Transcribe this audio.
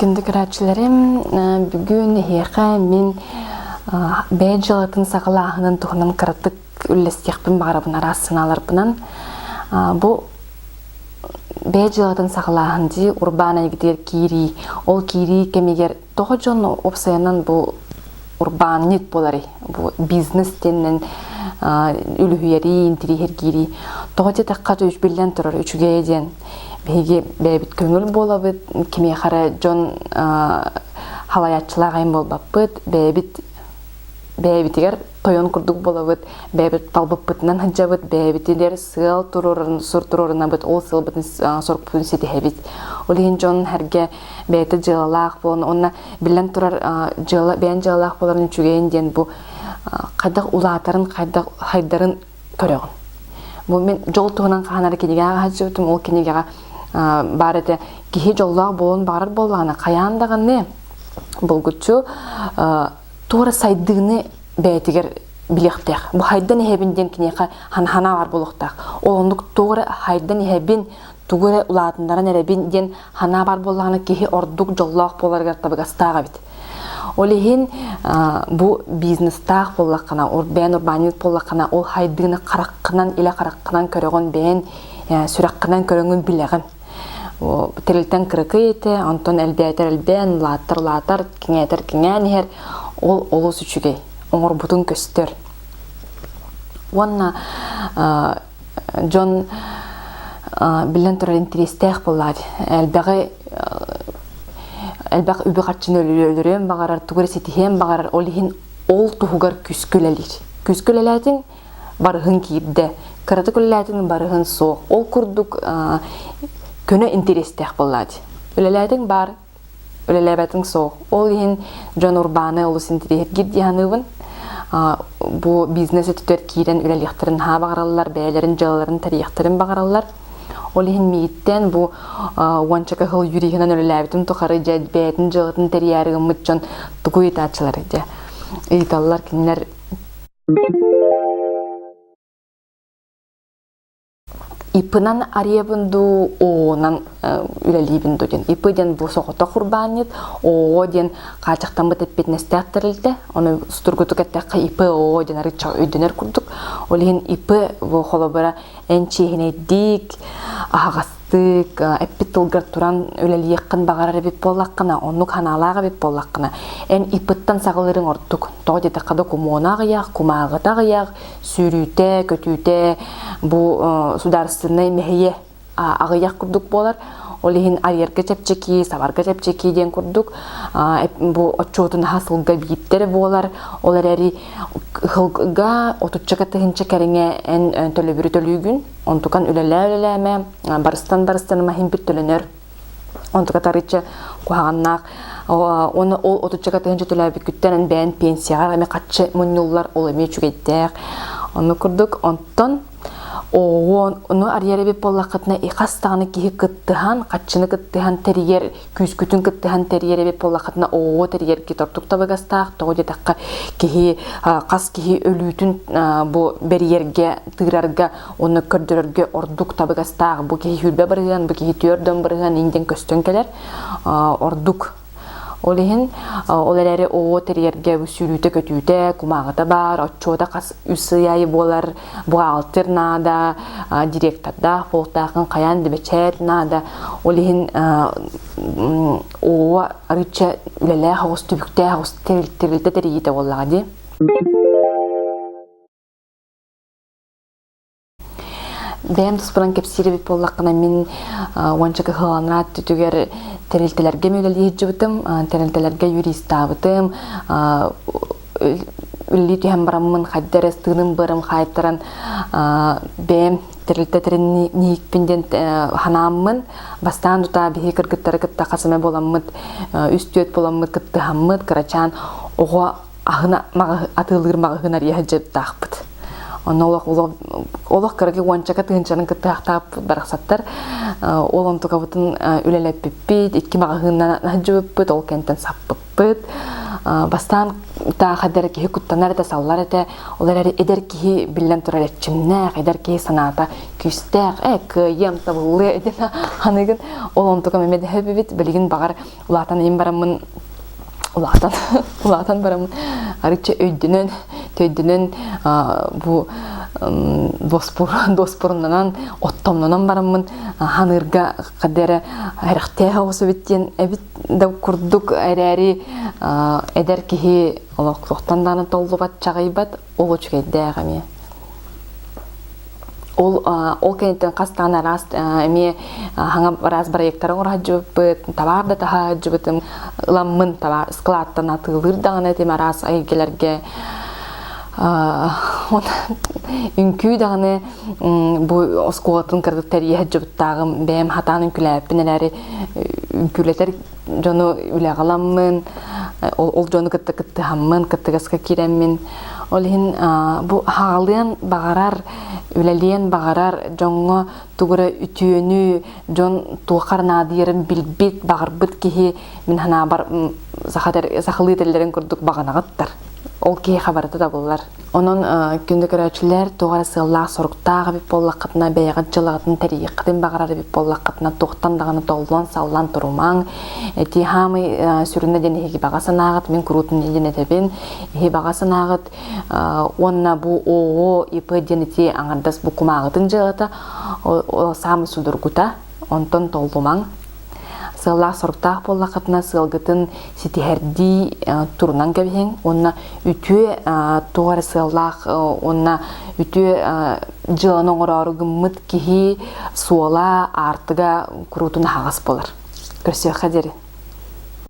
Кіндикрачилэрим бүгүн эһиэхэ мин бэйэ дьыалатын саҕалааһынын туһунан кыратык үллэстиэхпин баҕарабын араас санааларбынан бу бэйэ дьыалатын саҕалааһын дии урбаан эйгэтигэр киирии ол киирии кэмигэр Тоҕо дьон уопсайынан бу урбаанньыт буоларый? Бу бизнес диэннэн үлүһүйэрии, интириэһиргиирии тоҕо диэтэххэ үч биллэн турар үчүгэйэ диэн биһиги бэйэбит көҥүл буолабыт кимиэхэ эрэ дьон халайааччылаах айан буолбаппыт бэйэбит бэйэбитигэр тойон курдук буолабыт бэйэбит талбыппытынан сылдьабыт бэйэбитигэр сыал туруорун сур туруорунабыт ол сыалбытын сорукпутун ситиһэбит ол иһин дьон сэргэ бэйэтэ дьыалалаах буолан уонна биллэн турар дьыала бэйэн дьыалалаах буоларын үчүгэйин диэн бу хайдах улаатарын хайдах хайдарын көрөҕүн бу мин дьол туһунан хаанары кинигэҕэ сылдьыбытым ол кинигэҕэ баар этэ киһи дьоллоох буолуон баҕарар буоллаҕына хайаан даҕаны булгуччу туора сайдыыны бэйэтигэр билиэхтээх бу хайдан иһэбин диэн киниэхэ санаабар буолуохтаах ол оннук туора хайдан иһэбин тугу эрэ улаатыннаран эрэбин диэн санаа баар буоллаҕына киһи ордук дьоллоох буоларыгар табыгастаах эбит ол иһин бу бизнестаах буоллаххына бэйэн урбаанньыт буоллаххына ол хайдыыны хараххынан илэ хараххынан көрөҕүн бэйэн сүрэххинэн көрөҥүн билэҕин тэрилтэн кыракый этэ онтон элбээтэр элбээн улаатар улаатар киҥээтэр киҥээн иһэр ол олус үчүгэй оҥорбутун көстөр уонна дьон биллэн турар интириэстээх буолар элбэҕи элбэх үбү-харчыны өлөрүөн баҕарар тугу эрэ ситиһиэн баҕарар ол иһин ол туһугар күүскэ үлэлиир күүскэ үлэлээтиҥ барыһын киирдэ кыратык үлэлээтиҥ барыһын суох ол курдук көнө интириэстээх буоллаат үлэлээтиҥ баар үлэлээбэтиҥ суох. Ол иһин дьон урбааны олус интириэһиргиир дии саныыбын. Бу бизнес өттүгэр киирэн үлэлиэхтэрин наһаа баҕараллар, бэйэлэрин дьыалаларын тэрийиэхтэрин баҕараллар. Ол иһин миигиттэн бу уонча кыһыл юриһынан үлэлээбитим тухары дьэ бэйэтин дьыалатын тэрийээри гыммыт дьон тугу ыйытааччылар дии. Ыйыталлар кинилэр Иппынан арыйабын дуу, оонан үлэлиибин дуу диэн. Иппы диэн бу соҕотох урбаанньыт, оо диэн хаачахтаммыт эппиэтинэстээх тэрилтэ. Ону сутургутук эттэххэ ИП ОО диэн арыычча өйдөнөр курдук. Ол иһин ИП бу холобура эн чиэһинэйдик, аһаҕастык, эппит тылгар туран үлэлиэххин баҕарар эбит буоллаххына, оннук санаалаах эбит буоллаххына, эн ИП-тан саҕалыырыҥ ордук. Тоҕо диэтэххэ, докумуона аҕыйаах, кумааҕыта аҕыйаах, сүүрүүтэ, көтүүтэ бу судаарыстыбнай мэһийэ аҕыйах курдук буолар. Ол иһин арьерга чэпчэки, сабарга чэпчэки диэн курдук бу отчуотун аһа сылга биирдэрэ буолар. Ол эрээри сылга отучча тыһынча кэриҥэ эн төлөбүрү төлүүгүн, онтукан үлэлээ-үлэлээмэ, барыстан-барыстан маһин бүттөлөнөр Онтука тарычча куһаҕаннаах уонна ол отучча катыһынча төлөөбүккүттэн бэйэн пенсияҕа эмиэ хаччы мунньуллар, ол эмиэ үчүгэйдээх. Ону курдук, онтон ону арыйар эбит буоллаххытына, хас даҕаны киһи кыттыһан, хаччыны кыттыһан тэрийэр, күүскүтүн кыттыһан тэрийэр эбит буоллаххытына, оо тэрийэргэ тортук табыгастаах. Тоҕо диэтэххэ, киһи хас киһи өлүүтүн бу бэрийэргэ, тыырарга Оны көрдөрөргө ордук табыгастаах бу киһи сүүрбэ барыһыан, бу киһи түөрдөн барыһыан инден көстөн кэлэр. Ордук ол иһин ол эрээри оо тэрийэргэ сүүрүүтэ-көтүүтэ, кумааҕыта баар, отчуота хас үс ый айы буолар, буҕаалтыр наада, директордаах, полтаахын хайаан дебэчэт наада. Ол иһин оо арыча үлэлээх оҕус түбүктээх оҕус тэрилтэ тэрийитэ буоллаҕа дии. Бэйэм туспунан кэпсиирбит буоллаххына, мин уонча кыһаланар түтүгэр тэрилтэлэргэ үлэлии сылдьыбытым, тэрилтэлэргэ юристаабытым, үлэлии түһэн бараммын хайда эрэ ыстыырын быарым хаайтаран бэйэм тэрилтэ тэринниһикпин диэн санааммын бастаан тутаа биһиги кыргыттары кытта хас эмэ буоламмыт үс-түөрт буоламмыт кыттыһаммыт кырачаан оҕо аһына атыылыыр маҕаһыынар иэһэ дьыттаахпыт онно олох олох кыракы уончака тыһынчанын кыттыахтаахпыт барахсаттар ол онтукабытын үлэлэппиппит икки маҕаһыыннан аһдьыбыппыт ол кэнтэн саппыппыт бастаан таахадэр киһи куттанар этэ саллар этэ ол эрээри эдэр киһи биллэн турар эрчимнээх эдэр киһи санаата күүстээх э кыайыам табыллыа этин аныгын ол онтука мэмэдэһэбибит билигин баҕар Улаатан им бараммын улаатан улаатан бараммын арычча өйдөнөн төйдөнөн бу доспур доспурунанан оттомнонон бараммын ханыырга кадере эрехтеэх оҕус эбит диэн эбит да курдук эрээри эдэр киһи олох туохтан даана толлубат чаҕыйбат ол үчүгэйдээх эмиэ ол ол кэнниттэн хастаан араас эмиэ хаҥа араас проектары оҥорһоддьубуппут табаар да таһаһоддьубутум ламмын таба складтан атыылыыр даҕаны этим араас эйгэлэргэ үҥкүү даҕаны бу оскуолатын кыргыт тэрийэ жубуттаагым бэйэм хатаан үҥкүлээппин эрээри үҥкүүлэтэр дьону үлэҕаламмын, ол дьону кытта кыттыһаммын, кыттыгаска кирэммин. Ол иһин бу хаалыан баҕарар, үлэлиэн баҕарар дьоҥҥо тугу эрэ үтүөнү, дьон туоххар наадыйарын билбит, баҕарбыт киһи мин санаабар сахалыы тиллэрин курдук баҕанаҕыттар. Ол киһиэхэ барыта да булар. Онон күндү көрөөччүлэр туох эрэ сыаллаах-соруктаах эбит буоллаххытына, бэйэҕит дьылҕатын тэрийиэххитин баҕарар эбит буоллаххытына, туохтан даҕаны толлон-саллан турумаҥ. Эти хаамый сүрүнэ диэн иһиги баҕа санааҕыт, мин куруутун диэн этэбин. Иһи баҕа санааҕыт уонна бу ООО ИП диэн ити аҥардас бу кумааҕытын дьыалата саамай судургута, онтон толлумаҥ. Сыаллаах-соруктаах буоллаххытына сыалгытын ситиһэрдии турунан кэбиһиҥ уонна үтүө туох эрэ сыаллаах уонна үтүө дьыаланы оҥороору гыммыт киһи суола аартыга куруутун аһаҕас буолар. Көрсүөххэ диэри.